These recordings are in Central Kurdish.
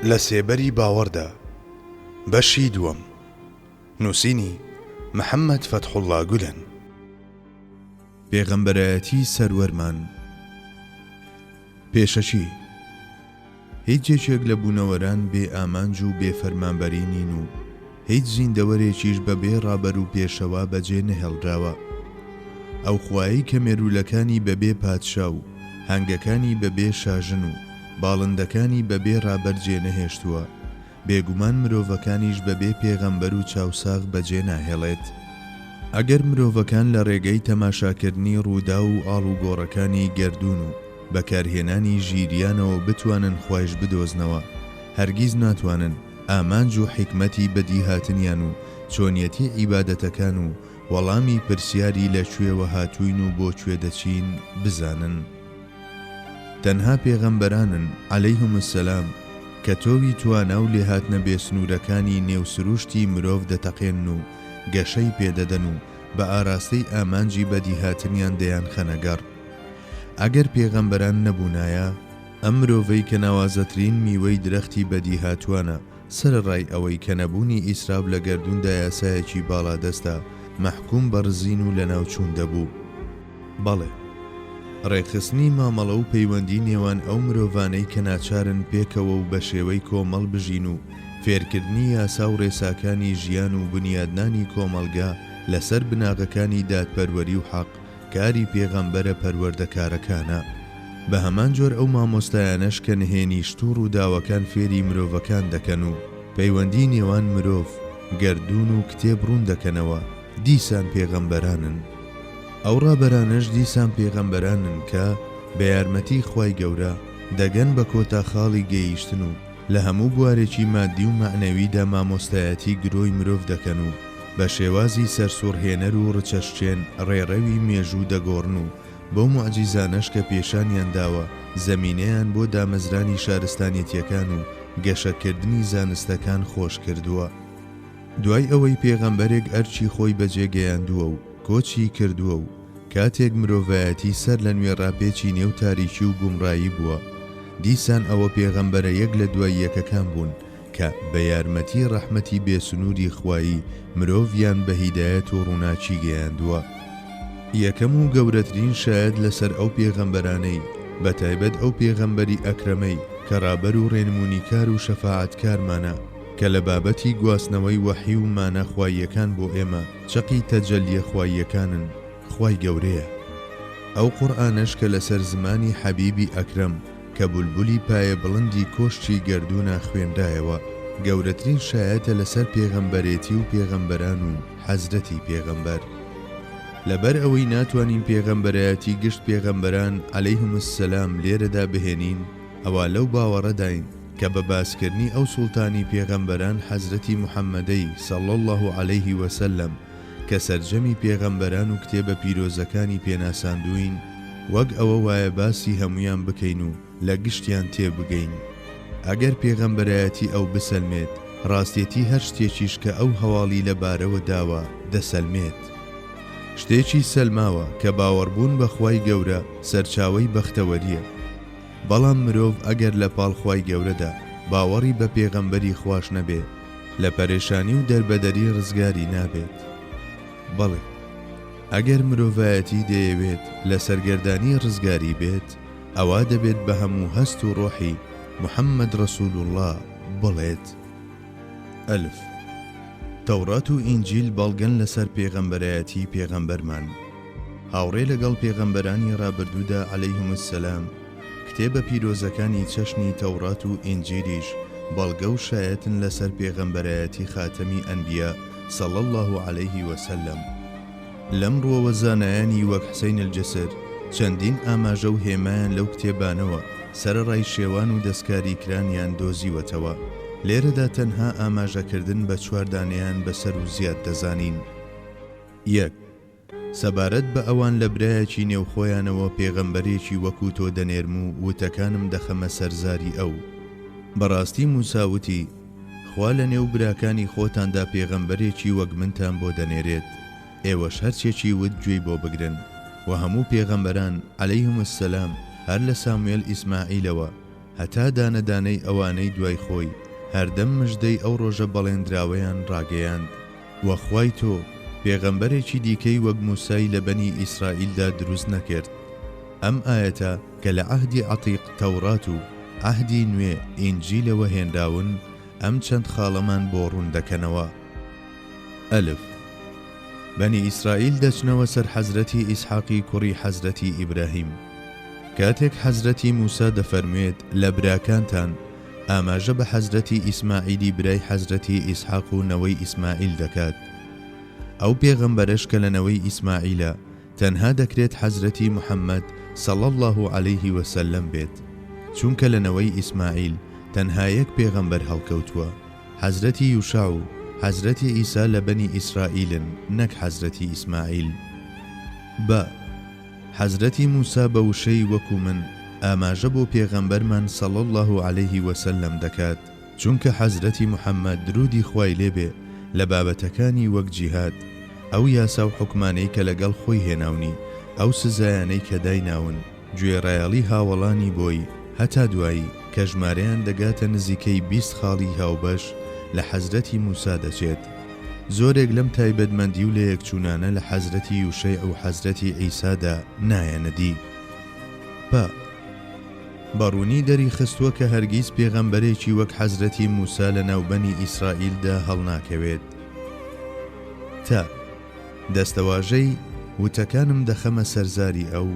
لە سێبەری باوەڕدا بەشی دووەم نووسینی محەممەد فەتحوڵا گولەن پێغەمبەرایەتی سەروەرمان پێشەکی، هیچ یەکێک لە بوونەوەران بێ ئامانج و بێ فەرمانبەری نین و هیچ زیندەوەرێکیش بە بێ ڕابەر و پێشەوا بە جێ نەهێڵراوە. ئەو خوایەی کە مێروولەکانی بە بێ پادشا و هەنگەکانی بە بێ شاژن و باڵندەکانی بە بێ ڕابەر جێ نەهێشتووە، بێگومان مرۆڤەکانیش بەبێ پێغەمبەر و چاوساغ بەجێ ناهێڵێت. ئەگەر مرۆڤەکان لە ڕێگەی تەماشاکردنی ڕووداو و ئاڵوگۆڕەکانی گەردوون و بەکارهێنانی ژیریانەوە بتوانن خوایش بدۆزنەوە، هەرگیز ناتوانن ئامانج و حیکمەتی بەدیهاتنیان و چۆنیەتی عیبادەتەکان و وەڵامی پرسیاری لە کوێوە هاتووین و بۆ کوێ دەچین بزانن. تەنها پێغەمبەرانن، علیهم السلام، کە تۆوی توانا و لێهاتنە بێسنوورەکانی نێو سرووشتی مرۆڤ دەتەقێنن و گەشەی پێدەدەن و بە ئاراستەی ئامانجی بەدیهاتنیان دەیانخەنە گەڕ. ئەگەر پێغەمبەران نەبوونایە، ئەم مرۆڤەی کە ناوازەترین میوەی درەختی بەدیهاتوانە، سەرەڕای ئەوەی کە نەبوونی ئیسراف لە گەردووندا یاسایەکی باڵادەستە، مەحکووم بە ڕزین و لەناوچوون دەبوو. بەڵێ. ڕێکخستنی مامەڵە و پەیوەندی نێوان ئەو مرۆڤانەی کە ناچارن پێکەوە و بە شێوەی کۆمەڵ بژین و فێرکردنی یاسا و ڕێساکانی ژیان و بنیادنانی کۆمەڵگە لەسەر بناغەکانی دادپەروەری و حەق، کاری پێغەمبەرە پەروەردەکارەکانە، بەهەمان جۆر ئەو مامۆستایانەش کە نهێنی شت و ڕووداوەکان فێری مرۆڤەکان دەکەن و پەیوەندی نێوان مرۆڤ، گەردوون و کتێب ڕوون دەکەنەوە، دیسان پێغەمبەرانن. ئەو ڕابەرانەش دیسان پێغەمبەرانن کە، بە یارمەتی خوای گەورە، دەگەن بە کۆتا خاڵی گەیشتن و، لە هەموو بوارێکی مادی و مەعنەویدا مامۆستایەتی گرۆی مرۆڤ دەکەن و بە شێوازی سەرسوڕهێنەر و ڕچەشکێن ڕێڕەوی مێژوو دەگۆڕن و بەو موعجیزانەش کە پێشانیان داوە زەمینەیان بۆ دامەزرانی شارستانێتیەکان و گەشەکردنی زانستەکان خۆش کردووە. دوای ئەوەی پێغەمبەرێک ئەرکی خۆی بەجێ گەیاندووە و کۆچی کردووە و کاتێک مرۆڤایەتی سەر لە نوێ ڕاپێچی نێو تاریکی و گومڕایی بووە، دیسان ئەوە پێغەمبەرە یەک لە دوای یەکەکان بوون کە بە یارمەتی ڕەحمەتی بێ سنووری خوایی مرۆڤیان بە هیدایەت و ڕووناکی گەیاندووە. یەکەم و گەورەترین شایەت لەسەر ئەو پێغەمبەرانەی، بە تایبەت ئەو پێغەمبەری ئەکرەمەی کە ڕابەر و ڕێنموونیکار و شەفاعەتکارمانە، کە لە بابەتی گواستنەوەی وەحی و مانا خواییەکان بۆ ئێمە، چەقی تەجەلیە خواییەکانن خوای گەورەیە ئەو قورئانەش کە لەسەر زمانی حەبیبی ئەکرەم کە بولبولی پایە بڵندی کۆشکی گەردوونە خوێنرایەوە گەورەترین شایەتە لەسەر پێغەمبەرێتی و پێغەمبەران و حەزرەتی پێغەمبەر لەبەر ئەوەی ناتوانین پێغەمبەرایەتی گشت پێغەمبەران علیهم السلام لێرەدا بهێنین ئەوا لەو باوەڕەداین کە بە باسکردنی ئەو سوڵتانی پێغەمبەران حەزرەتی محەمەدەی، صلی اللە علیه و سلم، کە سەرجەمی پێغەمبەران و کتێبە پیرۆزەکانی پێ ناساندووین، وەک ئەوە وایە باسی هەموویان بکەین و لە گشتیان تێ بگەین. ئەگەر پێغەمبەرایەتی ئەو بسەلمێت، ڕاستێتی هەر شتێکیش کە ئەو هەواڵی لە بارەوە داوە دەسەلمێت. شتێکی سەلماوە کە باوەڕبوون بە خوای گەورە سەرچاوەی بەختەوەرییە. بەڵام مرۆڤ ئەگەر لە پاڵ خوای گەورەدا باوەڕی بە پێغەمبەری خواش نەبێ لە پەرێشانی و دەربەدەری ڕزگاری نابێت. بەڵێ ئەگەر مرۆڤایەتی دەیەوێت لە سەرگەردانی ڕزگاری بێت ئەوا دەبێت بە هەموو هەست و ڕۆحی محمد رسول اللە بڵێت، الف. تەوڕات و ئینجیل بەڵگەن لەسەر پێغەمبەرایەتی پێغەمبەرمان. هاوڕێ لەگەڵ پێغەمبەرانی ڕابردوودا علیهم السلام، کتێبە پیرۆزەکانی چەشنی تەوڕات و ئینجیلیش بەڵگە و شایەتن لەسەر پێغەمبەرایەتی خاتەمی ئەنبیا صلی اللە علیه و سلم. لەم ڕووەوە زانایانی وەک حسین الجسر چەندین ئاماژە و هێمایان لەو کتێبانەوە سەرەڕای شێوان و دەستکاریکرانیان دۆزیوەتەوە، لێرەدا تەنها ئاماژەکردن بە چوار دانەیان بەسەر و زیاد دەزانین. یەک. سەبارەت بە ئەوان لە برایەکی نێو خۆیانەوە پێغەمبەرێکی وەکو تۆ دەنێرم و وتەکانم دەخەمە سەر زاری ئەو. بەڕاستی موسا وتی، خوا لە نێو براکانی خۆتاندا پێغەمبەرێکی وەک منتان بۆ دەنێرێت، ئێوەش هەر چێکی وت گوێی بۆ بگرن، وە هەموو پێغەمبەران، علیهم السلام، هەر لە ساموێل ئیسماعیلەوە هەتا دانە دانەی ئەوانەی دوای خۆی، هەردەم مژدەی ئەو ڕۆژە بەڵێندراوەیان ڕاگەیاند. وە خوای تۆ پێغەمبەرێکی دیکەی وەک موسای لە بەنی ئیسرائیلدا دروست نەکرد. ئەم ئایەتە کە لە عەهدی عەتیق تەورات و عەهدی نوێ ئینجیلەوە هێنراون ئەم چەند خاڵەمان بۆ ڕوون دەکەنەوە. ئەلف. بەنی ئیسرائیل دەچنەوە سەر حەزرەتی ئیسحاقی کوڕی حەزرەتی ئیبراهیم. کاتێک حەزرەتی موسا دەفەرموێت لە براکانتان، ئاماژە بە حەزرەتی ئیسماعیلی برای حەزرەتی ئیسحاق و نەوەی ئیسماعیل دەکات، ئەو پێغەمبەرەش کە لە نەوەی ئیسماعیلە تەنها دەکرێت حەزرەتی محەمەد صلی اللە علیه و سلم بێت، چونکە لە نەوەی ئیسماعیل تەنها یەک پێغەمبەر هەڵکەوتووە، حەزرەتی یوشع و حەزرەتی عیسی لە بەنی ئیسرائیلن نەک حەزرەتی ئیسماعیل. بە. حەزرەتی موسا بە وشەی وەکو من ئاماژە بۆ پێغەمبەرمان صلی اللە علیه وسلم دەکات، چونکە حەزرەتی محمد درودی خوای لێ بێ لە بابەتەکانی وەک جیهاد ئەو یاسا و حوکمانەی کە لەگەڵ خۆی هێناونی ئەو سزایانەی کە دایناون گوێڕایەڵی هاوەڵانی بۆی هەتا دوایی کە ژمارەیان دەگاتە نزیکەی بیست خاڵی هاوبەش لە حەزرەتی موسا دەچێت. زۆرێک لەم تایبەتمەندی و لەیەکچوونانە لە حەزرەتی یوشەیع و حەزرەتی عیسادا نایەنە دی. پ. بە ڕوونی دەریخستووە کە هەرگیز پێغەمبەرێکی وەک حەزرەتی موسا لە ناو بەنی ئیسرائیلدا هەڵناکەوێت. ت. دەستەواژەی، وتەکانم دەخەمە سەر زاری ئەو،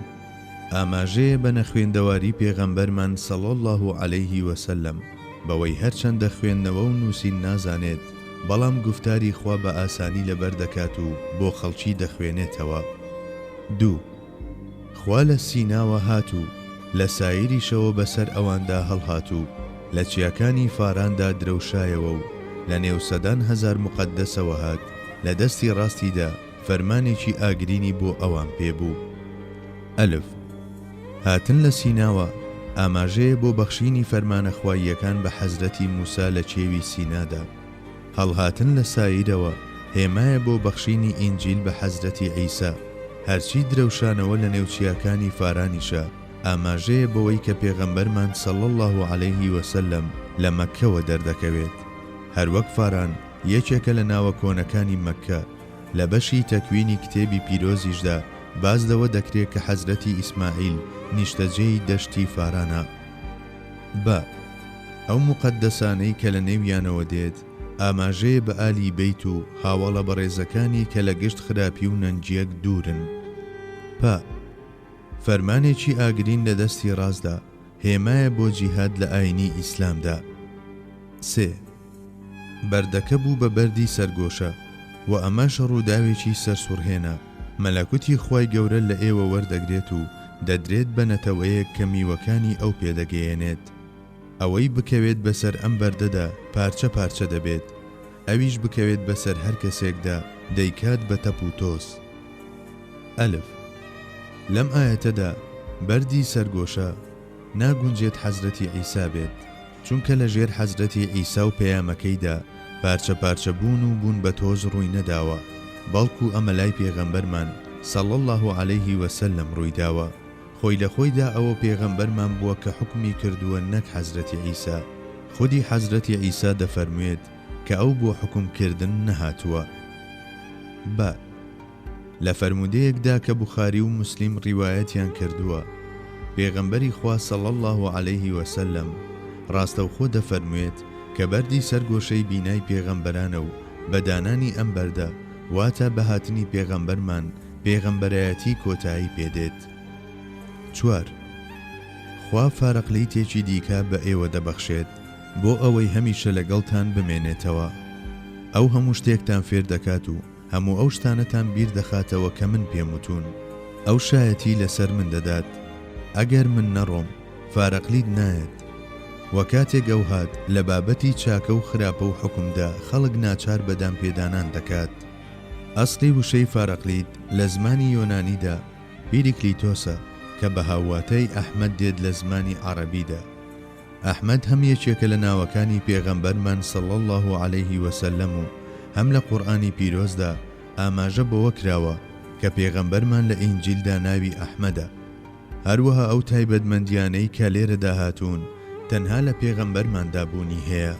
ئاماژەیە بە نەخوێندەواری پێغەمبەرمان صلی اللە علیه و سلم بەوەی هەرچەندە خوێندنەوە و نووسین نازانێت، بەڵام گوفتاری خوا بە ئاسانی لەبەر دەکات و بۆ خەڵکی دەخوێنێتەوە. دوو. خوا لە سیناوە هات و لە سایریشەوە بە سەر ئەواندا هەڵهات و لە چیاکانی فاراندا درەوشایەوە و لە نێو سەدان هەزار موقەدەسەوە هات لە دەستی ڕاستیدا، فەرمانێکی ئاگرینی بۆ ئەوان پێ بوو. ئەلف. هاتن لە سیناوە، ئاماژەیە بۆ بەخشینی فەرمانە خواییەکان بە حەزرەتی موسا لە کێوی سینادا. هەڵهاتن لە سایرەوە، هێمایە بۆ بەخشینی ئینجیل بە حەزرەتی عیسا. هەرچی درەوشانەوە لە نێو چیاکانی فارانیشە، ئاماژەیە بەوەی کە پێغەمبەرمان صلی اللە علیه وسلم لە مەککەوە دەردەکەوێت. هەروەک فاران یەکێکە لە ناوە کۆنەکانی مەککە، لە بەشی تەکوینی کتێبی پیرۆزیشدا باس لەوە دەکرێ کە حەزرەتی ئیسماعیل نیشتەجێی دەشتی فارانە. بە، ئەو موقەدەسانەی کە لە نێویانەوە دێت، ئاماژەیە بە ئالی بەیت و هاوەڵە بەڕێزەکانی کە لە گشت خراپی و نەنگیەک دوورن. پە، فەرمانێکی ئاگرین لە دەستی ڕاستدا، هێمایە بۆ جیهاد لە ئاینی ئیسلامدا. سێ. بەردەکە بوو بە بەردی سەرگۆشە و ئەمەش ڕووداوێکی سەرسوڕهێنە، مەلەکوتی خوای گەورە لە ئێوە وەردەگرێت و دەدرێت بە نەتەوەیەک کە میوەکانی ئەو پێدەگەیەنێت. ئەوەی بکەوێت بەسەر ئەم بەردەدا پارچە پارچە دەبێت، ئەویش بکەوێت بەسەر هەر کەسێکدا دەیکات بە تەپ و تۆز. ئەلف. لەم ئایەتەدا بەردی سەرگۆشە ناگونجێت حەزرەتی عیسا بێت. چونکە لە ژێر حەزرەتی عیسا و پەیامەکەیدا پارچە پارچە بوون و بوون بە تۆز ڕووی نەداوە، بەڵکو ئەمە لای پێغەمبەرمان، صلی اللە علیه و سلم، ڕووی داوە. خۆی لە خۆیدا ئەوە پێغەمبەرمان بووە کە حوکمی کردووە نەک حەزرەتی عیسا. خودی حەزرەتی عیسا دەفەرموێت کە ئەو بۆ حوکم کردن نەهاتووە. بە. لە فەرموودەیەکدا کە بوخاری و موسلیم ڕیوایەتیان کردووە، پێغەمبەری خوا صلی اللە علیه وسلم ڕاستەوخۆ دەفەرموێت کە بەردی سەر گۆشەی بینای پێغەمبەرانە و بە دانانی ئەم بەردە واتا بە هاتنی پێغەمبەرمان پێغەمبەرایەتی کۆتایی پێ دێت. چوار. خوا فارەقلیتێکی دیکە بە ئێوە دەبەخشێت بۆ ئەوەی هەمیشە لەگەڵتان بمێنێتەوە. ئەو هەموو شتێکتان فێر دەکات و هەموو ئەو شتانەتان بیر دەخاتەوە کە من پێم وتوون. ئەو شایەتی لەسەر من دەدات. ئەگەر من نەڕۆم، فارەقلید نایەت. وە کاتێک ئەو هات، لە بابەتی چاکە و خراپە و حوکمدا خەڵک ناچار بە دانپێدانان دەکات. ئەسڵی وشەی فارەقلید لە زمانی یۆنانیدا پیریکلیتۆسە کە بە هاوواتای ئەحمەد دێت لە زمانی عەڕەبیدا. ئەحمەد هەم یەکێکە لە ناوەکانی پێغەمبەرمان صلی اللە علیه و سلم و هەم لە قورئانی پیرۆزدا ئاماژە بەوە کراوە کە پێغەمبەرمان لە ئینجیلدا ناوی ئەحمەدە هەروەها ئەو تایبەتمەندیانەی کە لێرەدا هاتوون تەنها لە پێغەمبەرماندا بوونی هەیە.